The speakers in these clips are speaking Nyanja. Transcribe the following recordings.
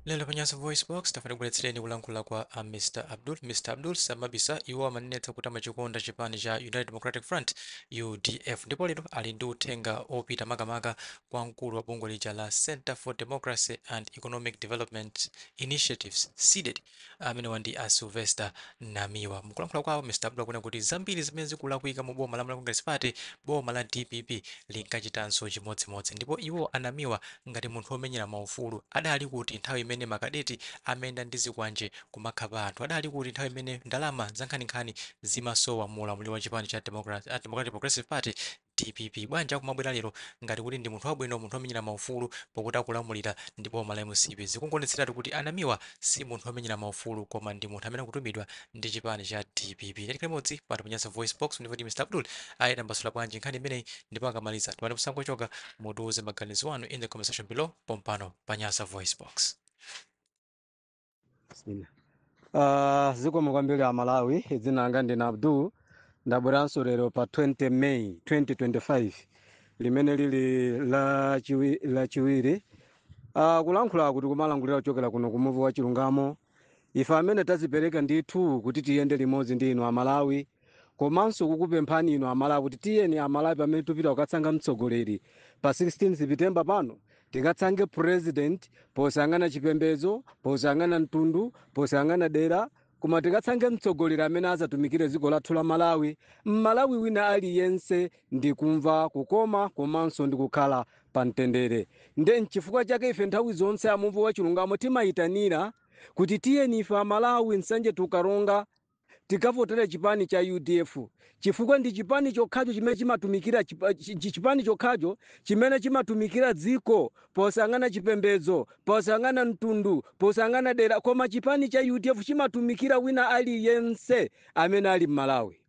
lero pa Nyasa voice box tafuna tikubweretsereni kulankhula kwa a mr abdul mr abdul samabisa iwo amanenetsa kuti amachikonda chipani cha united democratic front udf ndipo lero ali ndi uthenga opita makamaka kwa mkulu wa bungwe lija la center for democracy and economic development initiatives cded Amenewa ndi a Sylvester Namiwa. Mukulankhula kwawo, Mr Abdul akunena kuti zambiri zimene zikulakwika mu boma la Malawi Congress Party, boma la dpp linkachitanso chimodzimodzi. Ndipo iwo a Namiwa ngati munthu omenyera ma ufulu, adali kuti nthawi imene ma kadeti amayenda ndi zikwanje kumakhapa anthu? Adali kuti nthawi imene ndalama zankhaninkhani zimasowa mu ulamuliro wa chipani cha Democratic Progressive Party, dpp bwanji akumabwera lero ngati kuti ndi munthu wabwino munthu omenyera maufulu pokuti akulamulira ndi boma la mcp zikungoonetseratu kuti a Namiwa si munthu omenyera maufulu koma ndi munthu amene akutumidwa ndi chipani cha dpp takhala limodzi pano pa Nyasa voice box ndipo ndi mr abdul aitambasula bwanji nkhani imeneyi ndipo akamaliza timati musangochoka mutiuze maganizo anu in the comment section below pompano pa Nyasa voice box Bismillah. Uh, zikomo kwambiri a Malawi dzina langa ndine Abdul ndabweranso lero pa 20 May 2025 limene lili la chiwi- la chiwiri uh, kulankhulaku tikumalankhulira kuchokera kuno ku muvi wa chilungamo ife amene tazipereka ndithu kuti tiyende limodzi ndi inu a Malawi Komanso kukupemphani inu a Malawi kuti tiyeni a Malawi pamene tikupita kukasankha mtsogoleri pa 16 Sipitemba pano, tikasankhe president posayang'ana chipembedzo, posayang'ana mtundu, posayang'ana dera, koma tikasankhe mtsogoleri amene azatumikire dziko lathu la Malawi, m'Malawi wina aliyense ndikumva kukoma komanso ndikukhala pa mtendere. Nde nchifukwa chake ife nthawi zonse a Muvi wa Chilungamo timayitanira kuti tiyeni ife a Malawi, Nsanje to Karonga, tikavotere chipani cha udf chifukwa ndi chipani chokhacho chimene chimatumikira chipa- chi- chi- chipani chokhacho chimene chimatumikira dziko posayang'ana chipembedzo posayang'ana mtundu posayang'ana dera koma chipani cha udf chimatumikira wina aliyense amene ali m'malawi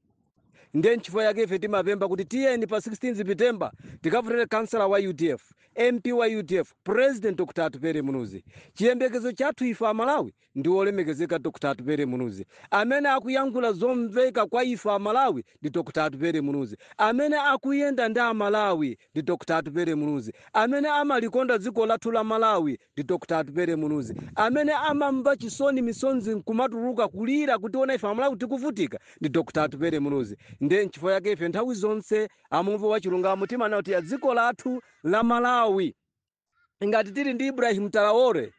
ndiye nchifukwa chake ife timapempha kuti tiyeni pa 16 september tikavotere kansala wa udf mp wa udf president dr atupele muluzi chiyembekezo chathu ife amalawi ndi wolemekezeka Dr Atupele Muluzi amene akuyankhula zomveka kwa ife Amalawi ndi Dr Atupele Muluzi amene akuyenda ndi Amalawi ndi Dr Atupele Muluzi amene amalikonda dziko lathu la Malawi ndi Dr Atupele Muluzi amene amamva chisoni misonzi nkumatuluka kulira kutiona ife Amalawi tikuvutika ndi Dr Atupele Muluzi ndiye nchifukwa chake ife nthawi zonse a Muvi wa Chilungamo timanena kuti ya dziko lathu la Malawi Ngati tili ndi Ibrahim Traore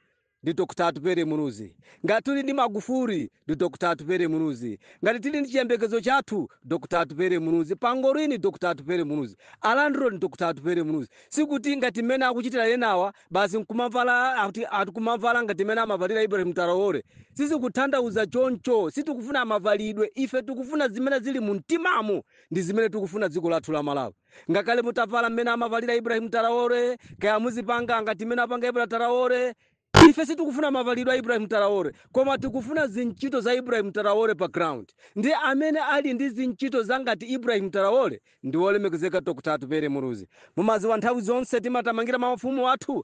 ndi Dr Atupele Muluzi, ngati tili ndi Magufuli ndi Dr Atupele Muluzi, ngati tili ndi chiyembekezo chathu Dr Atupele Muluzi, Pangolin Dr Atupele Muluzi, a Landlord Dr Atupele Muluzi, sikuti ngati mmene akuchitira enawa basi nkumavala ati ati kumavala ngati mmene amavalira Ibrahim Traore, sizikutanthauza choncho, sitikufuna mavalidwe, ife tikufuna zimene zili mumtimamo, ndizimene tikufuna dziko lathu la Malawi. Ngakhale mutavala mmene amavalira Ibrahim Traore, kaya muzipanga ngati mmene apanga Ibra Traore, ife sitikufuna mavalidwe a Ibrahim Traore, koma tikufuna zintchito za Ibrahim Traore pa ground. Ndiye amene ali ndi zintchito za ngati Ibrahim Traore ndi wolemekezeka Dr. Atupele Muluzi. Mumadziwa nthawi zonse timathamangira mafumu athu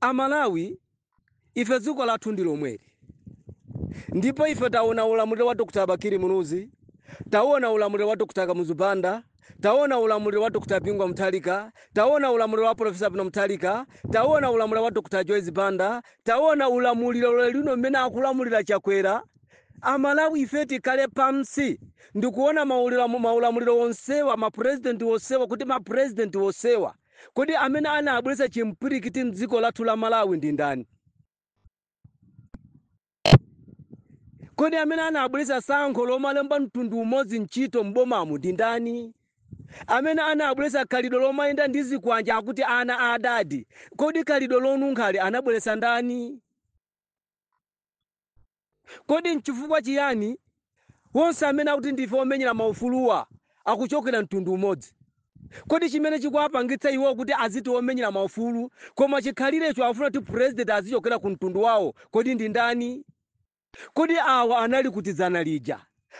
A Malawi ife dziko lathu ndi lomweli ndipo ife taona ulamuliro wa Dr Bakili Muluzi, tauona ulamuliro wa Dr Kamuzu Banda, taona ulamuliro wa Dr Bingu wa Mutharika, taona ulamuliro wa Professor Peter Mutharika, taona ulamuliro wa Dr Joyce Banda, taona ulamuliro lero lino mmene akulamulira Chakwera. A Malawi ife tikhale pansi ndikuona maulira- maulamuliro onsewa ma president onsewa kuti ma president onsewa Kodi amene anabweretsa chimpwirikiti mdziko lathu la Malawi ndi ndani? Kodi amene anabweretsa tsankho lomalemba mtundu umodzi ntchito m'bomamu ndi ndani? Amene anabweretsa khalidwe lomayenda ndi zikwanje akuti ana a adadi, kodi khalidwe lonunkhali anabweretsa ndani? Kodi n'chifukwa chiyani onse amene akuti ndife omenyera maufuluwa akuchokera mtundu umodzi? Kodi chimene chikuwapangitsa iwowo kuti aziti omenyera maufulu koma chikhalirecho akufuna kuti president azichokera ku mtundu wawo kodi ndi ndani? Kodi awa anali kuti dzana lija?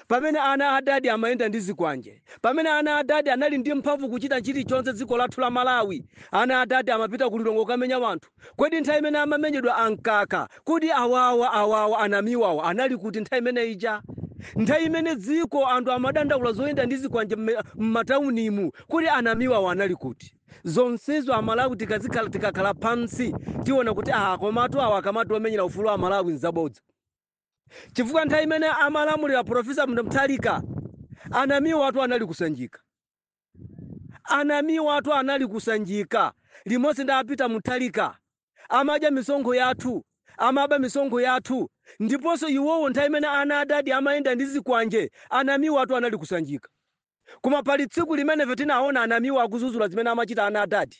Pamene ana a adadi amayenda ndi zikwanje, pamene ana a adadi anali ndi mphamvu kuchita chilichonse dziko lathu la Malawi, ana a adadi amapita ku Lilongwe kukamenya wanthu, kodi nthawi imene amamenyedwa a Mkaka, kodi awawa awawa a Namiwa awa anali kuti nthawi imene ija? Nthawi imene dziko anthu amadandaula zoyenda ndi zikwanje mmataunimu, kodi a Namiwa awa anali kuti? Zonsezo a Malawi tikazikhala tikakhala pansi tiona kuti aah komatu awa akamati omenyera ufulu wa Malawi nzabodza. chifukwa nthawi imene amalamulira profesa Mutharika a Namiwatu anali ku Sanjika a Namiwatu anali ku Sanjika limodzi ndi a Peter Mutharika amadya misonkho yathu amaba misonkho yathu ndiponso iwowo nthawi imene ana adadi amayenda ndi zikwanje a Namiwatu anali ku Sanjika koma pali tsiku limene ife tinaona a Namiwa akudzudzula zimene amachita ana adadi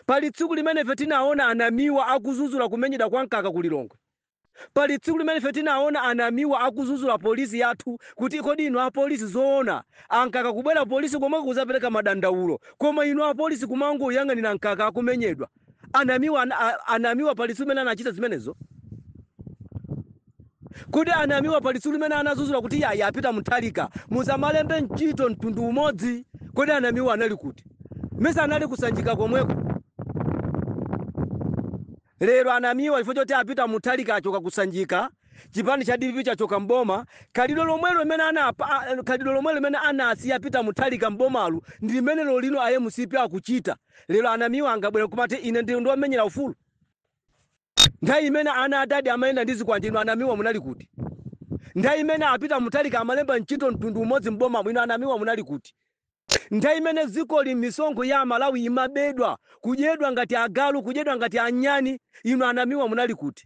Pali tsiku limene ife tinaona anamiwa akuzuzula kumenyedwa kwa mkaka ku Lilongwe. Pali tsiku limene ife tinaona anamiwa akuzuzula polisi yathu kuti kodi inu apolisi zoona amkaka kubwera ku polisi komweko kuzapereka madandaulo koma inu apolisi kumangoyang'anira mkaka akumenyedwa. Anamiwa, anamiwa pali tsiku limene anachita zimenezo? Kodi anamiwa pali tsiku limene anazuzula kuti yayi a peter mutharika musamalembe ntchito mtundu umodzi kodi anamiwa anali kuti mesa anali ku sanjika komweko lero anamiwa chifukwa choti a peter mutharika achoka ku sanjika chipani cha dpp chachoka mboma khalidwe lomwelo limene anapa a- khalidwe lomwelo limene anasiya a peter mutharika mbomalu ndi limene lero lino a mcp akuchita lero anamiwa angabwera kumati ine ndi ndi omenyera ufulu Nthawi imene ana a dadi amayenda ndi zikwanje inu a Namiwa munali kuti? Nthawi imene a Peter Mutharika amalemba ntchito mtundu umodzi m'bomamu inu a Namiwa munali kuti? Nthawi imene dzikoli misonkho ya a Malawi imabedwa, kudyedwa ngati agalu, kudyedwa ngati anyani inu a Namiwa munali kuti?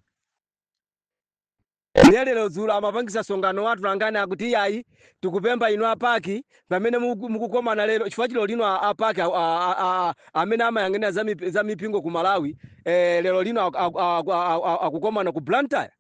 Nde lero dzulo amapangitsa msonkhano wa atolankhani akuti iyayi tikupempha inu a pac pamene muku, mukukomana lero chifukwa choti lero lino a, a pac a, a, a, a, amene amayang'anira za, mip, za mipingo ku malawi eh, lero lino akukomana aku, aku, aku, aku, akukomana ku blantyre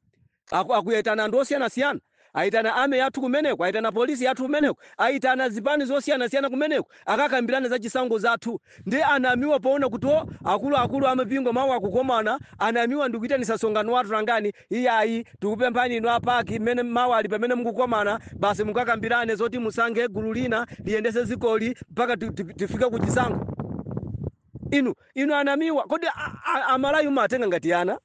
aku, akuyitana anthu osiyanasiyana ayitana army yathu kumeneko ayitana polisi yathu kumeneko ayitana zipani zosiyanasiyana kumeneko akakambirana za chisankho zathu ndi anamiwa poona kuti o akuluakulu amipingo mawa akukomana anamiwa ndikuyitanitsa msonkhano wa atolankhani Iyayi, tikupemphani inu a pac mmene mawa li pamene mukukomana basi mukakambirane zoti musankhe gulu lina liyendetse dzikoli mpaka ti- ti- tifike ku chisankho. Inu inu anamiwa, kodi a- a- amalawi mumawatenga ngati ana?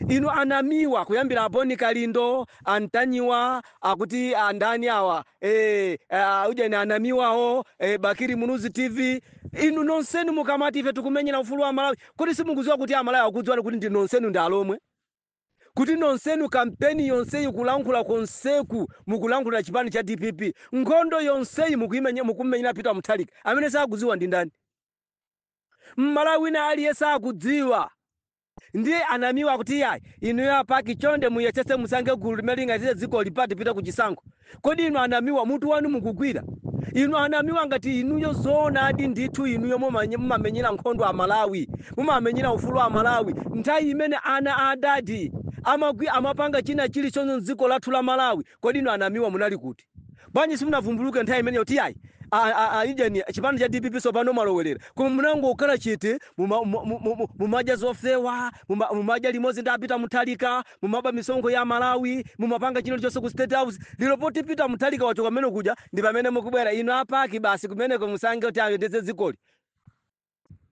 Inu anamiwa kuyambira a bon kalindo a ntanyiwa akuti andani awa eh, ah, ujeni anamiwawo eh, bakili muluzi tv inu nonsenu mukamati ife tikumenyera ufulu wa amalawi Kodi simukudziwa kuti a Malawi akukudziwani kuti ndi nonsenu ndi alomwe? Kuti nonsenu kampeni yonseyi kulankhula konseku mukulankhulira chipani cha dpp? Nkhondo yonseyi mukuimenya mukumumenyera Peter Mutharika amene sakudziwa ndi ndani? M'malawi wina aliyense akudziwa. Ndiye a Namiwa akuti iyayi inuyo a pac chonde muyesetse musankhe gulu limene lingayendetse dzikoli mpaka tipite ku chisankho. Kodi inu anamiwa mutu wanu ukugwira? Inu anamiwa ngati inuyo zoonadi ndithu inuyo mumamenyera nkhondo a Malawi, mumamenyera ufulu wa a Malawi nthawi imene ana a adadi amagwi amapanga china chilichonse mdziko lathu la Malawi kodi inu anamiwa munali kuti? Bwanji simunavumbuluke nthawi imeneyo kuti yayi a a a ujeni chipani cha dpp tsopano mwalowelera koma munangokhala chete muma mu mu mu mumadya zofewa muma mumadya limodzi ndi a Peter Mutharika, mumaba misonkho ya amalawi mumapanga china chonse ku state house lero poti peter mutharika wachoka kumene kuja ndi pamene mukubwera inu apaki basi kumeneko musange kuti ayendetse dzikoli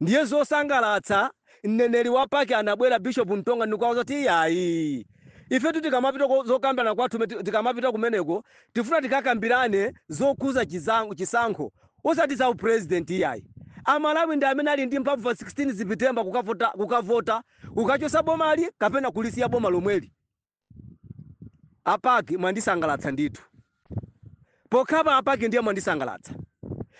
ndiye zosangalatsa mneneri wa paki anabwera bishop mtonga ndikuwauza kuti iyayi ifetu tikamapita ko- zokambirana kwathu me- ti- tikamapita kumeneko tifuna tikakambirane zokhudza chizango- chisankho osati za upresident iyayi amalawi ndi amene ali ndi mphamvu pa 16 sepitemba kukavota, kukavota Kukachosa bomali kapena kulisiya boma lomweli a pac mwandisangalatsa ndithu pokhapa a pac ndiye mwandisangalatsa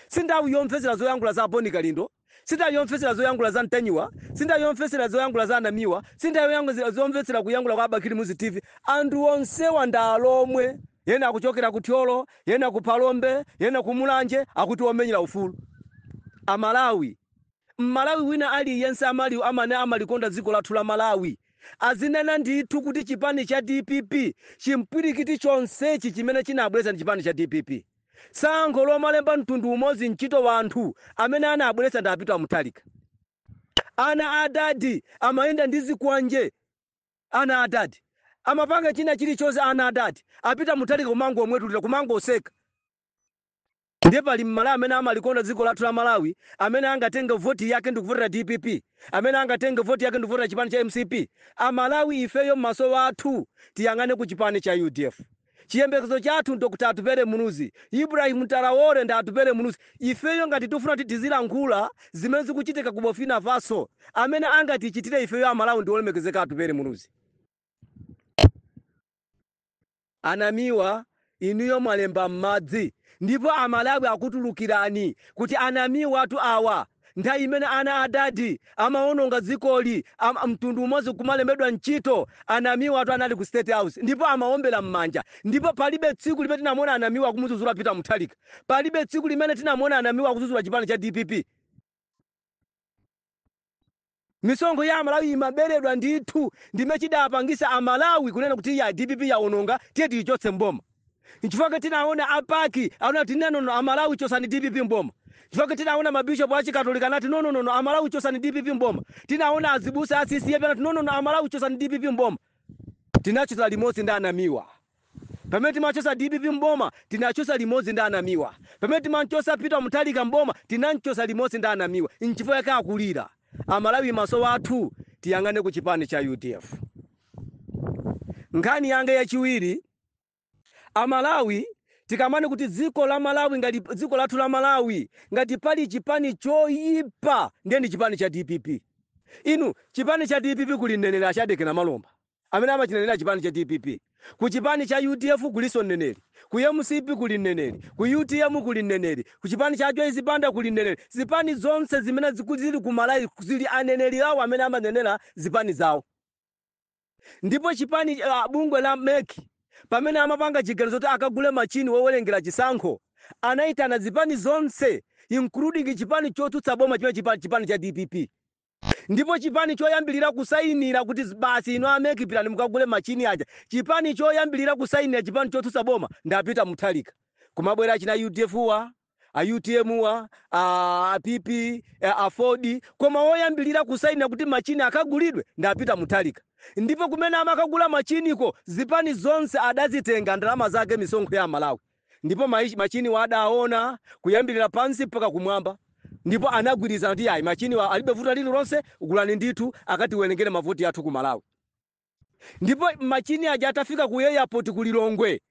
sinthawi yomvetsera zoyankhula za aboni kalindo sinthawi yomvetsera zoyankhula za antanyiwa sinthawi yomvetsera zoyankhula za anamiwa sinthawi yoyankhula zomvetsera kuyankhula kwa abakili muluzi tv anthu onsewa ndi alomwe yena akuchokera ku thyolo yena ku phalombe yena ku mulanje akuti omenyera ufulu amalawi Mmalawi wina aliyense amali amene amalikonda dziko lathu la Malawi azinena ndithu kuti chipani cha dpp chimpwirikiti chonsechi chimene chinabweletsa ndi chipani cha dpp. Sankho lomalemba mtundu umodzi ntchito wanthu amene anabweletsa ndi a Peter Mutharika. Ana a adadi amayenda ndi zikwanje ana a adadi amapanga china chilichonse ana a adadi a Peter Mutharika kumangomwetulila kumangoseka. Nde pali mmalawi amene amalikonda dziko lathu la malawi amene angatenge vote yake ndikuvotera dpp? Amene angatenge vote yake ndikuvotera chipani cha mcp? Amalawi ifeyo maso athu tiyang'ane ku chipani cha udf. Chiyembekezo chathu ndi Dr Atupele Muluzi, Ibrahim Traore ndi Atupele Muluzi. Ifeyo ngati tikufuna kuti tizilankhula zimene zikuchitika ku Burkina Faso amene angatichitire ifeyo amalawi ndi olemekezeka Atupele Muluzi. A Namiwa inuyo mwalemba m'madzi ndipo a Malawi akutulukirani kuti a Namiwatu awa, nthawi imene ana a Dadi amawononga dzikoli mtundu umodzi kumalembedwa ntchito, a Namiwatu anali ku State House ndipo amawombera m'manja ndipo palibe tsiku limene tinamuona a Namiwa akumudzudzula Peter Mutharika, palibe tsiku limene tinamuona a Namiwa akudzudzula chipani cha dpp. Misonkho ya amalawi imaberedwa ndithu ndi chime chidapangisa amalawi kunena kuti iyaa dpp yaononga tiye tiyichotse m'boma nchifukwa chake tinaona a pac anati nenono amalawi chosani dpp m'boma nchifukwa chake tinaona ma bishop a chikatolika anati nononono amalawi chosani dpp m'boma tinaona azibusa a ccap anati nonono amalawi chosani dpp m'boma tinachotsa limodzi ndi a namiwa Pamene timachotsa dpp m'boma tinachotsa limodzi ndi a Namiwa. Pamene timamchotsa Peter Mutharika m'boma tinamchotsa limodzi ndi a Namiwa. Nchifukwa chake akulira. Amalawi maso athu tiyang'ane ku chipani cha udf. Nkhani yanga yachiwiri, a Malawi tikambane kuti dziko la Malawi ngati dziko lathu la Malawi ngati pali chipani choyipa ndiye ndi chipani cha dpp. Inu chipani cha dpp kuli mneneri a Shadreck Namalomba. amene amachinenera chipani cha dpp, ku chipani cha udf kulinso mneneri, ku mcp kuli mneneri, ku utm kuli mneneri, ku chipani cha ajoyce banda kuli mneneri, zipani zonse zimene zili ku Malawi zili ndi aneneri awo amene amanenera zipani zawo. Ndipo chipani uh, bungwe la mec pamene amapanga chiganizo kuti akagule machini wowerengera chisankho anaitana zipani zonse including chipani chotsutsa boma chimene chipani cha dpp. Ndipo chipani choyambilira kusainira kuti basi inu a mec pitani mukagule machini aja chipani choyambilira kusainira chipani chotsutsa boma ndi a Peter Mutharika kumabwera achina udf wa, a utm wa, a pp, a aford koma woyambilira kusainira kuti machini akagulidwe ndi a Peter Mutharika ndipo kumene amakagula machiniko zipani zonse adazitenga ndalama zake misonkho ya amalawi. Ndipo ma, machiniwa adawona kuyambirira pansi mpaka kumwamba, ndipo anagwirizana kuti yayi machiniwa alibe vuto lililonse, gulani ndithu akatiwerengere mavoti athu ku Malawi. Ndipo machini aja atafika ku airport ku Lilongwe,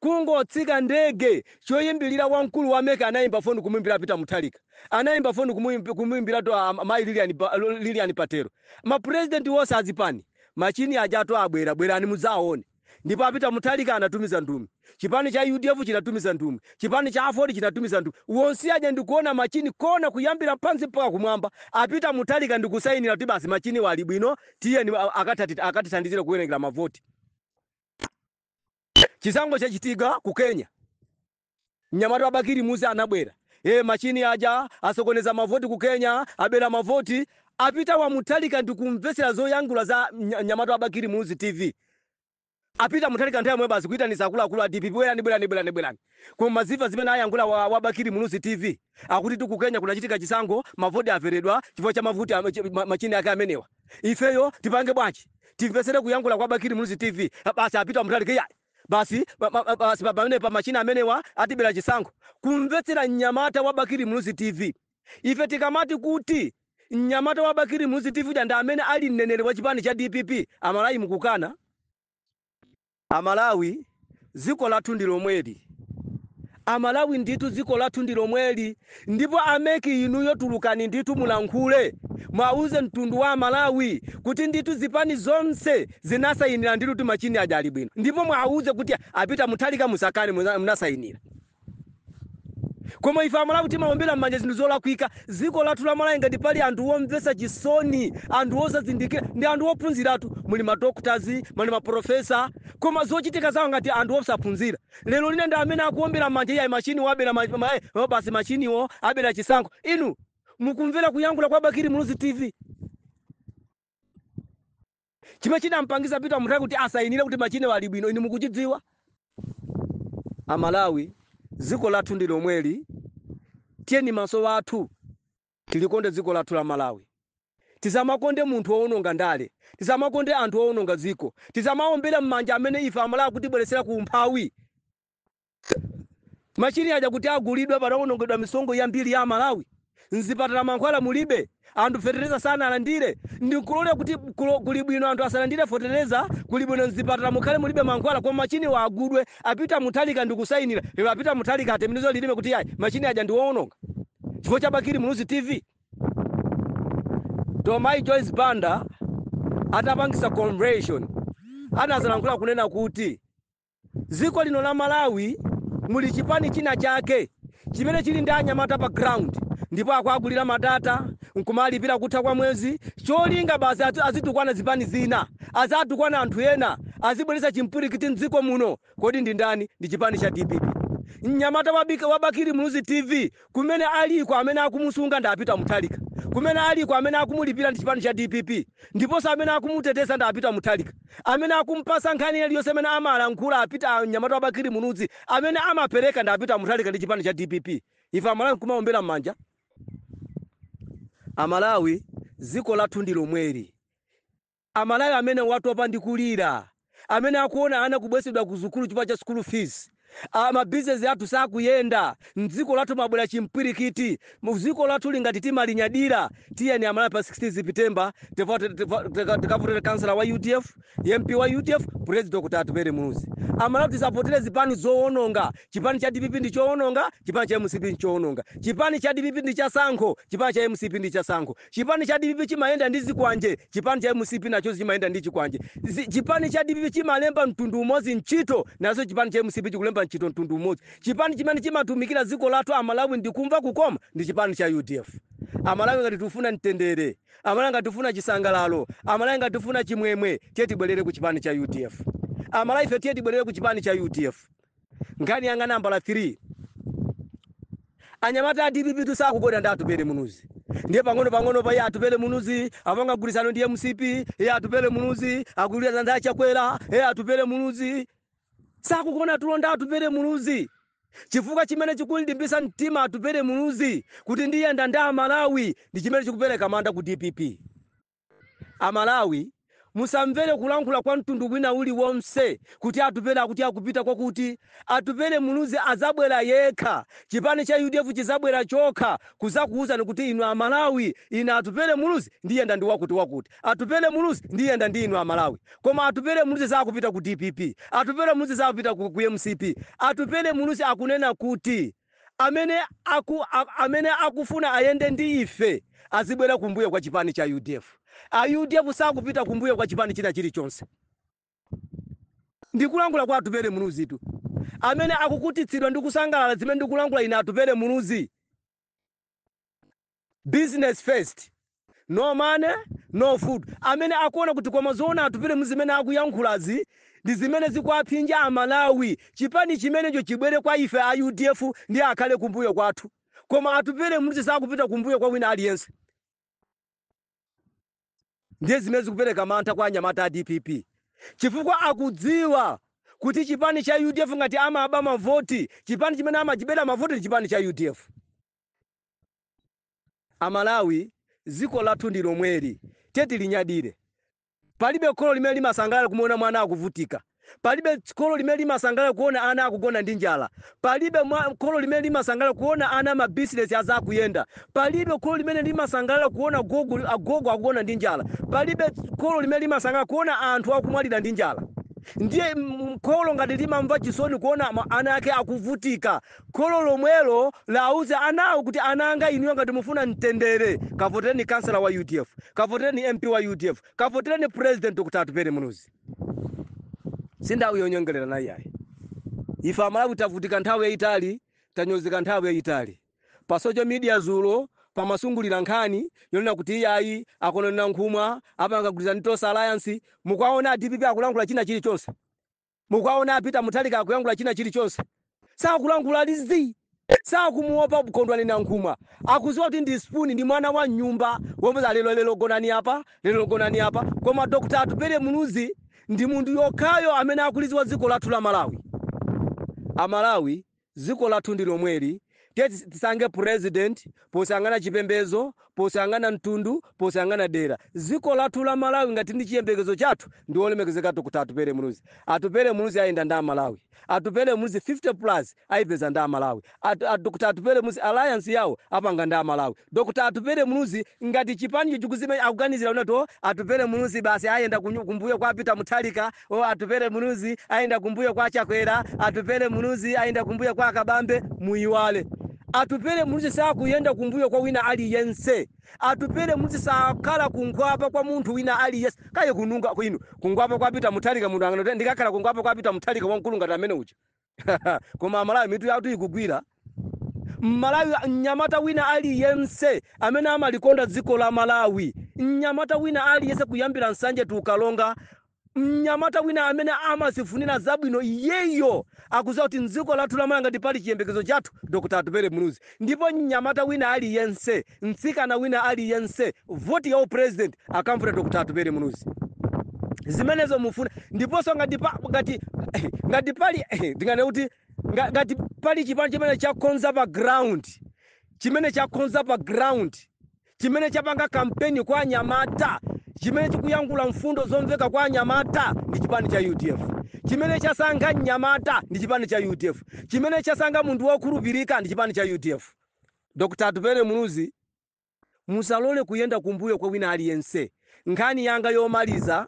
kungotsika ndege, choyambilira wamkulu wa mec anayimba foni kumuyimbira a Peter Mutharika, anayimba foni kumuimb, kumuyimbiratu a mayi Lilian Ba, Lilian Patel, ma president onse a zipani, machini ajatu abwera, bwerani mudzawone. Ndipo a Peter Mutharika anatumiza nthumwi, chipani cha udf chinatumiza nthumwi, chipani cha aford chinatumiza nthumwi, wonse aja ndikuona machini kuona kuyambira pansi mpaka kumwamba, a Peter Mutharika ndikusainira kuti basi machiniwa ali bwino, tiyeni a- akatati- akatithandizire kuwerengera mavoti. Chisankho chachitika ku Kenya. Mnyamata wa Bakili Muluzi anabwera. Ee machini aja asokoneza mavoti ku Kenya, abera mavoti a Peter wa Mutharika ndikumvetsera zoyankhula za mnyamata wa Bakili Muluzi TV. A Peter Mutharika nthawi yomwe basi kuitanisa akuluakulu a dpp bwerani bwerani bwerani bwerani. Koma mwadziwa zimene ayankhula wa, wa Bakili Muluzi TV akutitu ku Kenya kunachitika chisankho mavoti aberedwa chifukwa cha mavoti a- chi- ma- machini ake amenewa. Ifeyo tipange bwanji? Timvetsere kuyankhula kwa Bakili Muluzi TV basi a Peter Mutharika iyayi. Basi pa- pa- pa- basi pa- pamenepa machini amenewa atibera chisankho kumvetsera mnyamata wa bakili muluzi tv ife tikamati kuti mnyamata wa bakili muluzi tv uja ndi amene ali mneneri wa chipani cha dpp amalawi mukukana amalawi dziko lathu ndi lomweli Amalawi ndithu dziko lathu ndilomweli ndipo a mec inuyo tulukani ndithu mulankhule mwauze mtundu wa amalawi kuti ndithu zipani zonse zinasayinila ndithu kuti machini aja ali bwino ndipo mwauze kuti a peter mutharika musakane munasayinila koma ife amalawi timaombela mmanja zinthu zolakwika dziko lathu la malawi ngati pali anthu omvetsa chisoni anthu osazindikila ndi anthu ophunzila, tu muli ma doctors muli ma professor koma zochitika zawo ngati anthu osaphunzila lero lino ndi amene akuombera mmanja iyayi machine wo abera ma, ma, eh, oh, basi machine wo abera chisankho inu mukumvera kuyankhula kwa bakiri muluzi tv chimene chidampangiza peter mutharika kuti asayinire kuti machine wo ali bwino inu mukuchidziwa amalawi dziko lathu ndi lomweli tiyeni maso athu Tilikonde dziko lathu la Malawi. Tisamakonde munthu woononga ndale. Tisamakonde anthu oononga dziko. Tisamaombere mmanja amene ife amalawi akutibweretsera ku umphawi. Machine aja kuti agulidwe panaonongedwa misonkho yambiri ya amalawi. Mzipatala mankhwala mulibe. Anthu fetereza sanalandire. Ndi kulola kuti kuli bwino anthu asalandire fetereza, kuli bwino mzipatala mukhale mulibe mankhwala koma machiniwa agulidwe. A Peter Mutharika ndi kusainira. Lero a Peter Mutharika atembenuze lilime kuti iyayi machine aja ndi woononga. chifukwa cha Bakili Muluzi TV? Tomayi Joyce Banda atapangitsa convention anadzalankhula kunena kuti dziko lino la Malawi muli chipani china chake chimene chili ndi anyamata pa ground ndipo akuagulira madata nkumalipira kutha kwa mwezi cholinga basi azitukwana zipani zina azitukwana anthu ena azibweretsa chipwirikiti mdziko muno Kodi ndi ndani ndi chipani cha dpp? Mnyamata wa Ba wa Bakili Muluzi TV kumene aliko amene akumusunga ndi a Peter Mutharika. Kumene aliko amene akumulipira ndi chipani cha dpp ndiponso amene akumuteteza ndi a Peter Mutharika. Amene akumpatsa nkhani iliyonse imene amalankhula a Peter a mnyamata wa Bakili Muluzi amene amapereka ndi a Peter Mutharika ndi chipani cha dpp. Ife Amalawi nkumaombera m'manja? Amalawi dziko lathu ndi lomweli. Amalawi amene mwatopa ndi kulira, amene mukuona ana kubwezedwa ku sukulu chifukwa cha school fees, ma business athu sakuyenda, mdziko lathu mwabwera chipwirikiti, dziko lathuli ngati timalinyadira, tiyeni amalawi pa 16 September tikavo tikavotere councillor wa udf, mp wa udf, president Dr Atupele Muluzi. Amalawi tisavotele zipani zowononga, chipani cha dpp ndi chowononga, chipani cha mcp nchowononga, chipani cha dpp ndi cha tsankho, chipani cha mcp ndi cha tsankho. Chipani cha dpp chimayenda ndi zikwanje, chipani cha mcp nacho chimayenda ndi chikwanje. Zi, chipani cha dpp chimalemba mtundu umodzi ntchito, nacho chipani cha mcp chikulemba ntchito mtundu umodzi. Chipani chimene chimatumikira dziko lathu Amalawi ndi kumva kukoma ndi chipani cha udf. Amalawi ngati tikufuna mtendere, Amalawi ngati tikufuna chisangalalo, Amalawi ngati tikufuna chimwemwe, tiye tibwerere ku chipani cha udf. Amalawife tiye tibwerere ku chipani cha udf. Nkhani yanga nambala 3. Anyamata a dpp tu sakugona ndi Atupele Muluzi. Ndiye pang'ono pang'ono eh Atupele Muluzi apanga mgwirizano ndi mcp, eh Atupele Muluzi akugwirizana ndi a Chakwera, eh Atupele Muluzi sakugona tulo ndi Atupele Muluzi. Chifukwa chimene chikumulimbitsa mtima Atupele Muluzi kuti ndiyenda ndi a Malawi ndi chimene chikupereka mantha ku dpp. A Malawi musamvere kulankhula kwa mtundu wina uli wonse kuti Atupele akuti akupita kwakuti. Atupele Muluzi azabwera yekha. Chipani cha udf chizabwera chokha kuzakuuzani kuti inu a Malawi ine Atupele Muluzi ndiyenda ndi wakuti wakuti. Atupele Muluzi ndiyenda ndi inu a Malawi. Koma Atupele Muluzi saakupita ku dpp. Atupele Muluzi saakupita ku mcp. Atupele Muluzi akunena kuti. amene amene akufuna ayende ndi ife azibwera kumbuyo kwa chipani cha udf a udf sakupita kumbuyo kwa chipani china chilichonse ndikulankhula kwa atupele muluzitu amene akukutitsidwa ndi kusangalala zimene ndikulankhula ine atupele muluzi business first no money no food amene akuona kuti koma zoona atupele muluzi zimene akuyankhulazi ndi zimene zikuwaphinja amalawi chipani chimenecho chibwere kwa ife a udf ndi akhale kumbuyo kwathu koma atupele muluzi sakupita kumbuyo kwa wina aliyense ndiye zimene zikupereka mantha kwa anyamata a dpp chifukwa akudziwa kuti chipani cha udf ngati amaba mavoti chipani chimene amachibera mavoti ndi chipani cha udf Amalawi dziko lathu ndi lomweli tiye tilinyadire. Palibe kholo limene limasangalala kumuona mwana akuvutika. Palibe kholo limene limasangalala kuona ana akugona ndi njala. Palibe mwa, kholo limene limasangalala kuona ana ma business asakuyenda. Palibe kholo limene limasangalala kuona gogo, agogo akugona ndi njala. Palibe kholo limene limasangalala kuona anthu akumwalira ndi njala. Ndiye mm, kholo ngati limamva chisoni kuona ma, ana ake akuvutika Kholo lomwelo lauze anawo kuti ana anga inuyo ngati mufuna mtendere kavotereni councillor wa udf, kavotereni MP wa udf, kavotereni president Dr Atupele Muluzi. Si nthawi yonyengererana iyayi. Ife Amalawi tavutika nthawi yaitali, tanyozeka nthawi yaitali. Pa social media dzulo pamazungulira nkhani yonena kuti iyayi a Kondwani Nankhumwa apanga gwirizano ndi Tonse Alliance. Mukuwaona a dpp akulankhula china chilichonse? Mukuwaona a Peter Mutharika akuyankhula china chili chonse? Sakulankhula ali zii. Sakumuopa Kondwani Nankhumwa. Akuziwa kuti ndi spoon ndi mwana wa mnyumba womuuza lero lero gonani apa, lero gonani apa. Koma Dr. Atupele Muluzi ndi munthu yekhayo amene akuliziwa dziko lathu la Malawi. A Malawi Dziko lathu ndi lomweli, tiye tisankhe president posayang'ana chipembezo, posayang'ana mtundu, posayang'ana dera. Dziko lathu la Malawi ngati ndi chiyembekezo chathu ndi wolemekezeka Dr Atupele Muluzi. Atupele Muluzi ayenda ndi a Malawi. Atupele Muluzi 50 plus ayipeza ndi a Malawi. A Dr Atupele Muluzi alliance yawo apanga ndi a Malawi. Dr Atupele Muluzi ngati chipanicho chikuzimemeza akuganizira kuti oh Atupele Muluzi basi ayenda kunyu- kumbuyo kwa Peter Mutharika, oh Atupele Muluzi ayenda kumbuyo kwa Chakwera, Atupele Muluzi ayenda kumbuyo kwa Kabambe, muyiwale. Atupele Muluzi sakuyenda kumbuyo kwa wina aliyense. Atupele Muluzi sakhala kungwapa kwa munthu wina aliyense. Kaye kununga kwinu, kungwapa kwa Peter Mutharika munthu anganu ndikakhala kungwapa kwa Peter Mutharika wamkulu ngati amene uja. koma amalawi mitu yathu ikugwira mmalawi mnyamata wina aliyense amene amalikonda dziko la malawi mnyamata wina aliyense kuyambira nsanje to karonga mnyamata wina amene amazifunira zabwino iyeyo akuziwa kuti mdziko lathu la malawi ngati pali chiyembekezo chathu dr atupele muluzi Ndipo mnyamata wina aliyense, mtsikana wina aliyense, voti ya u president akamvotera Dr Atupele Muluzi. Zimenezo mufuna ndiponso ngati pa, ngati ngati pali ndingane kuti nga- ngati pali chipani chimene chakonza pa ground chimene chakonza pa ground chimene chapanga kampeni kwa anyamata, chimene chikuyankhula mfundo zomveka kwa anyamata ndi chipani cha udf, chimene chasankha mnyamata ndi chipani cha udf, chimene chasankha munthu wokhulupirika ndi chipani cha udf. Dr. Atupele Muluzi, musalole kuyenda kumbuyo kwa wina aliyense. Nkhani yanga yomaliza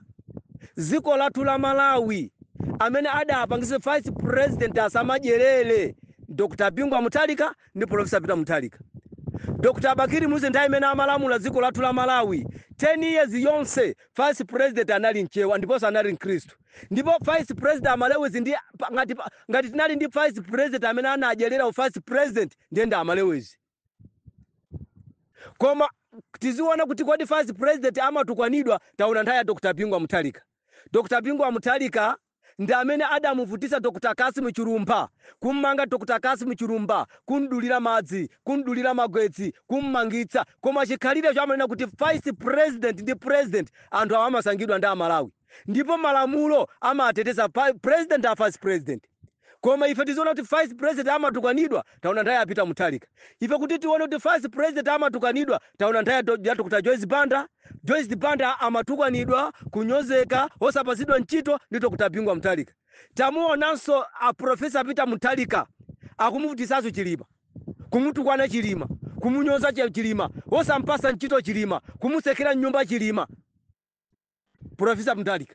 dziko lathu la Malawi amene adapangitse vice president asamadyelele Dr Bingu wa Mutharika ndi Professor Peter Mutharika. Dr Bakili Muluzi nthawi imene amalamula dziko lathu la Malawi 10 years yonse vice president anali mchewa ndiponso anali mkristu ndipo vice president amalewezi ndi ngati ngati tinali ndi vice president amene anadyelera u vice president ndiye ndi amalewezi. koma tiziona kuti kodi vice president amatukwanidwa taona nthawi ya dr bingu wa muthalika dr bingu wa muthalika ndi amene adamuvutisa dr kasimu chilumpha kummanga dr kasimu chilumpha kumdulira madzi kumdulira magetsi kummangitsa koma chikhalirecho amanena kuti vice president ndi president anthu awa amasankhidwa ndi amalawi ndipo malamulo amateteza pa- president a vice president koma ife tiziona kuti vice president amatukanidwa taona nthawi ya peter muthalika ife kuti tione kuti vice president amatukanidwa taona nthawi ya Do- ya dr joyce banda joyce banda amatukanidwa kunyozeka osapatsidwa ntchito ndi dr bingu wa muthalika tamuonanso a profesa peter muthalika akumuvutisanso chilima kumutukwana chilima kumunyoza Chi- chilima osampasa ntchito chilima kumutsekera mnyumba chilima profesa muthalika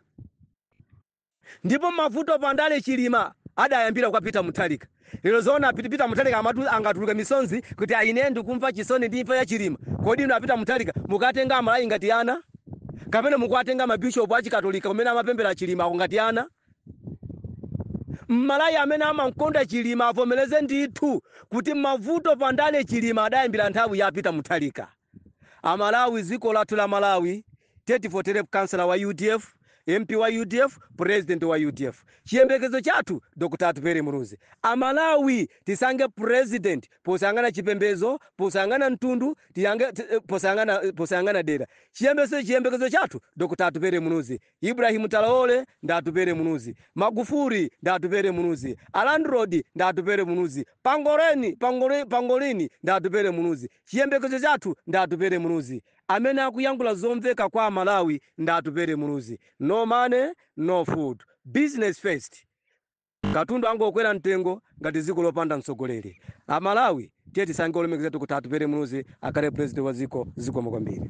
Ndipo mavuto pa ndale chilima adayambira kwa peter muthalika lero zoona peter muthalika angatuluke misonzi kuti ayi ine ndikumva chisoni ndi imfa ya chilima kodi inu a peter muthalika mukuwatenga amalawi ngati ana kapena mukuwatenga ma bishop a chikatolika kumene amapemphera chilima ngati ana mmalawi amene amamkonda chilima avomereze ndithu kuti mavuto pa ndale chilima adayambira nthawi ya peter muthalika amalawi dziko lathu la malawi Tiye tivotere councillor wa udf, MP wa udf, president wa udf. Chiyembekezo chathu Dr Atupele Muluzi. Amalawi tisankhe president posayang'ana chipembezo, posayang'ana mtundu, tiyange, ti, posayang'ana, posayang'ana dera. Chiyembekezo, chiyembekezo chathu Dr Atupele Muluzi. Ibrahim Traore ndi Atupele Muluzi. Magufuli ndi Atupele Muluzi. Alandrod ndi Atupele Muluzi. Pangoleni, pangole, pangolini ndi Atupele Muluzi. Chiyembekezo chathu ndi Atupele Muluzi. Amene akuyankhula zomveka kwa amalawi ndi Atupele Muluzi. No money, no food. Business first. Katundu angokwera mtengo ngati dziko lopanda mtsogoleri. Amalawi tiye tisankhe olemekezeka kuti Atupele Muluzi akhale president wa dziko. Zikomo kwambiri.